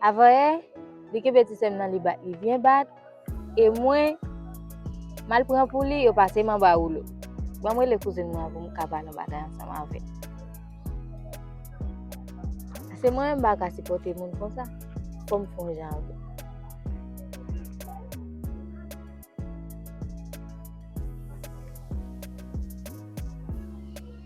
Avanyè li kenbe ti sèm nan li bat li byen bat e mwen mal pran pou li yo pase m anba woulo. Banm rele kouzin mwen an pou m ka pale yon bagay ansanm avè l. Se mwen menm m pa ka sipòte moun konsa. Fò m fon jan avè l.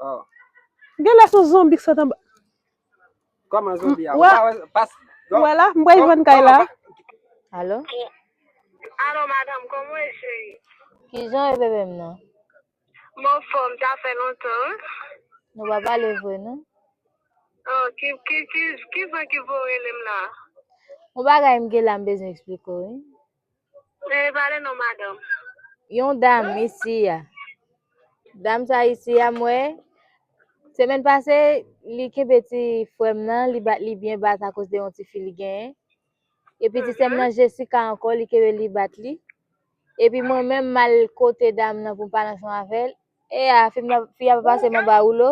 Oh. Genlè son zonbi k sot anba. Koman zonbi a? Ou pa wè pas Ou wè la? M pral jwenn kay la. Alo? Alo madame, kòman ou ye cheri? Kijan ou ye bebe m nan? M anfòm, sa fè lontan wi. Nou pa pale vre non. Oh, ki, ki, ki, kizan ki vle w rele m la? Yon bagay m gen la m bezwen eksplike w wi. Mwen e pale non madanm. Yon dam isi a. Dam sa isi a mwen. Semèn pase li kenbe ti frèm nan, li bat li byen bat akos de yon ti fi li genyen. Epi ti sèm nan Jessica ankò li kenbe li bat li. Epi mwen menm mal kote dam nan pou m pale ansan avèl. E a fi a pa pase m anba woulo.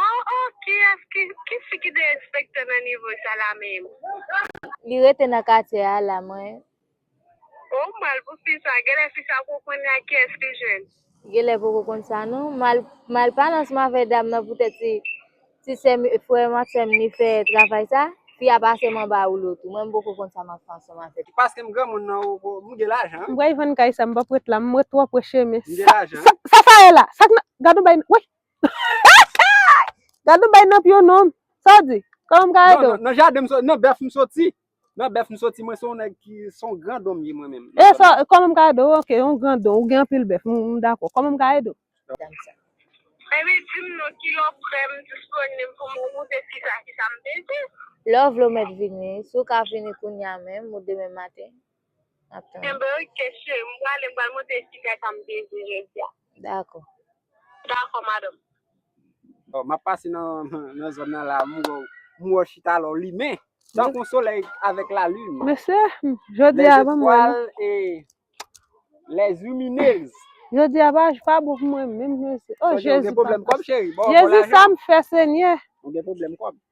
Oh oh kiyes ki ki fi ki derespekte nan nivo sa la minm. Li rete nan katye a la mwen. Oh m mal pou fi sa genlè fi sa poko konn ak kiyes li jwenn. Genlè poko konn sa non. Mal pa lansman avè dam nan poutèt se Ti sèm e frèm ak sèm li fè travay sa, fi a pase m anba woulo tou. Mwen m poko konn sa m ap fè ansanm avè l. Paskem granmoun nan ou ko, m gen lajan. M pral vann kay sa, m pap ret la, m ret twò pre chemen. M gen lajan. Sa sa ye la? Sak nan, gad on bay, woy! Gad on bay nan pye w non. Sa w di? Kòman m ka ede w? Non, nan jaden m soti, nan bèf m soti. Nan bèf m soti mwen se yon nèg ki se yon gran don m ye mwen menm. E sa kòman m ka ede w ok yon gran don ou gen anpil bèf m dakò kòman m ka ede w. Baby di m non ki lè w prè m disponible pou m moute ti sa ki sa m bezwen. Lè w vle w mèt vini si w ka vini kounya menm ou demen maten. Kenbe kesye m prale m pral monte chita sa m te di jodi a. Dako. Dako madam. Oh map pase nan zone nan la m wè w. M wè w chita la w limen tankou yon solèy avèk la lune. Mesye jodi a banm wè nou. Les etoiles et les lumineuses. Jodi a pa pa bon pou mwen menm mesye. Oh jezi papa. Ou gen pwoblèm kòb cheri. Jezi sam fè senyè. Ou gen pwoblèm kòb.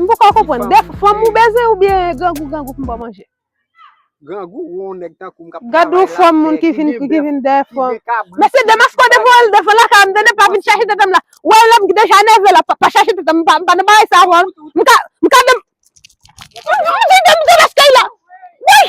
M poko konprann, dè fanm ou beze ou byen grangou grangou pou m ba w manje? Grangou ou yon nèg tankou m k ap travay la, Gad yon fanm moun ki vin ki vin dè fanm. Mesye Demasko devan l devan lakay m tande pa vin chache tete m la. Ou wè lè m deja nève la pa chache tete m m pa nan bagay sa avan m ka m ka de m Demasko ila Wouyy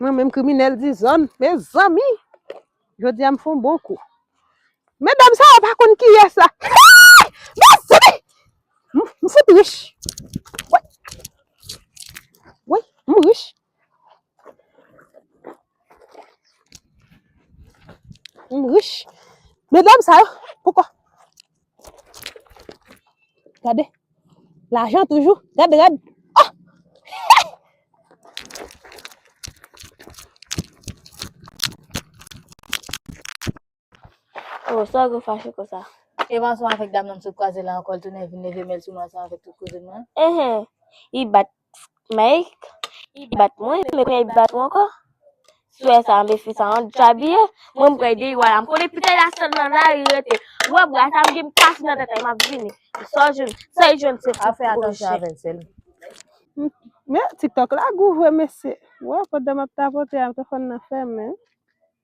Mwen menm kriminèl dizòn, mezanmi! Jodi a m fon bon kou. Medam sa yo pa konn kiyès la. Hey! Mezanmi! M m fout rich. Woy! Woy! M rich. M rich. Medam sa yo poko Gade, lajan toujou. Gade, gade. Oh! Oh, sa gwe fache kon sa. E mwa sa avèk dam nan msot kwaze la ankò l tounen vin leve mèl sou mwa sa avèk tout koze mwen. Ehe. I bat Mike, li bat mwen, men kounye a li bat ou ankò. Swè sa, anbe fi sa, an djabiye, mwen m pral derive la, m konnen pitay la sèl nan lari li rete. Ou wè bra sa, m gen m kase nan tèt a, m ap vini. Sa w jwenn, sa li jwenn se fout kouche. Men, tiktok la gou vre mesye. Wè, pandan m ap tapote a, m te konn nan fèmen.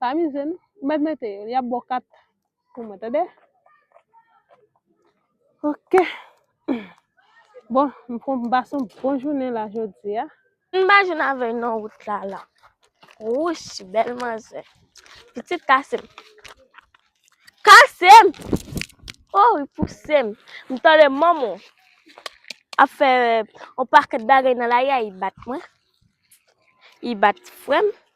Pa amize nou. Ou mèt mete yo. Yap bo 4 pou mwen tande. Ok. Bon, m pran m pase yon bon jounen la jodi a. M pa jwenn avè w non wout la la. Wouch, bèl manzè. Pitit kase m. Kase m! Oh, li pouse m. M tande manman w ap fè yon pakèt bagay nan la ri a, li bat mwen. Li bat frè m.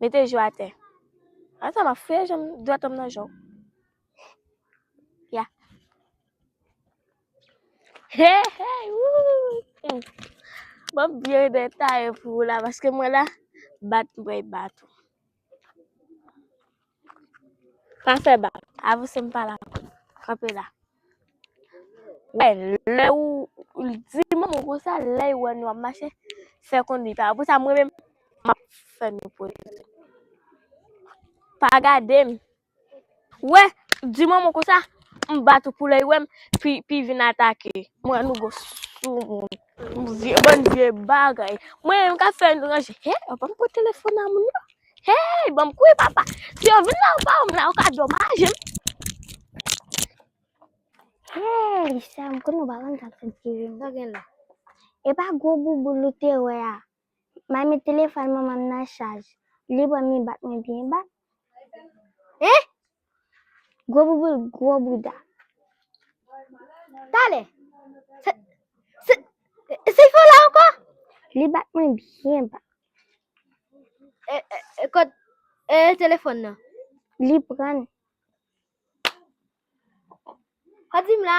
Mete jou atè. Ata ma fouye janm dwat anm nan jou. Ya. Hey, hey, wou. Mwen byen detaye pou la, paske mwen la, bat mwen bat ou. Pa fè bak. Avanse m pa la ankò. Kanpe la. Wè, lè ou di moun ou konsa, lè y wè nou ap mache, fè konn li pa wè. Pou sa mwen menm, m ap fè nou pwezi. Pa gade m. Wè, di moun ou konsa, m bat ou pou lè y wè m, pi vin atake. M wè nou gwo sou moun. Bndye bndye bagay mwen menm kap fè nou ranje he yo banm kwe telefon a moun yo hey banm kwe papa si yo vin la yo pa banm la yo ka domaje m hey sa m konn nou pa konn sa k fè m ti ri m pa gen la epa gwo bouboul ou te wè a. May met telefòn manman m nan chaj. Li pran mi bat mwen byen ba. Eh! Gwo bouboul, gwo bouda. Talè! Se, se, se fè la ankò? Li bat mwen byen ba. E, e, e kòd, e telefòn nan? Li pran. Kòd di m la?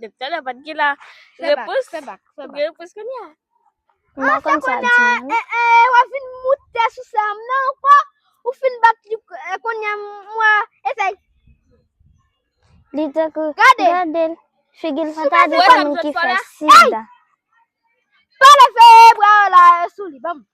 Depi talè pat gen la repons. Fè bak, fè bak. Gen repons konya. Mwen ah, konn sa di. Eh eh, eh wa fin moute sou sa m nan anko. Ou fin bak li eh, konya mwa esay. Li te kou. Gade. Gade. Figil fata di konnen ki fè sida. Pale fè bra la sou li bam.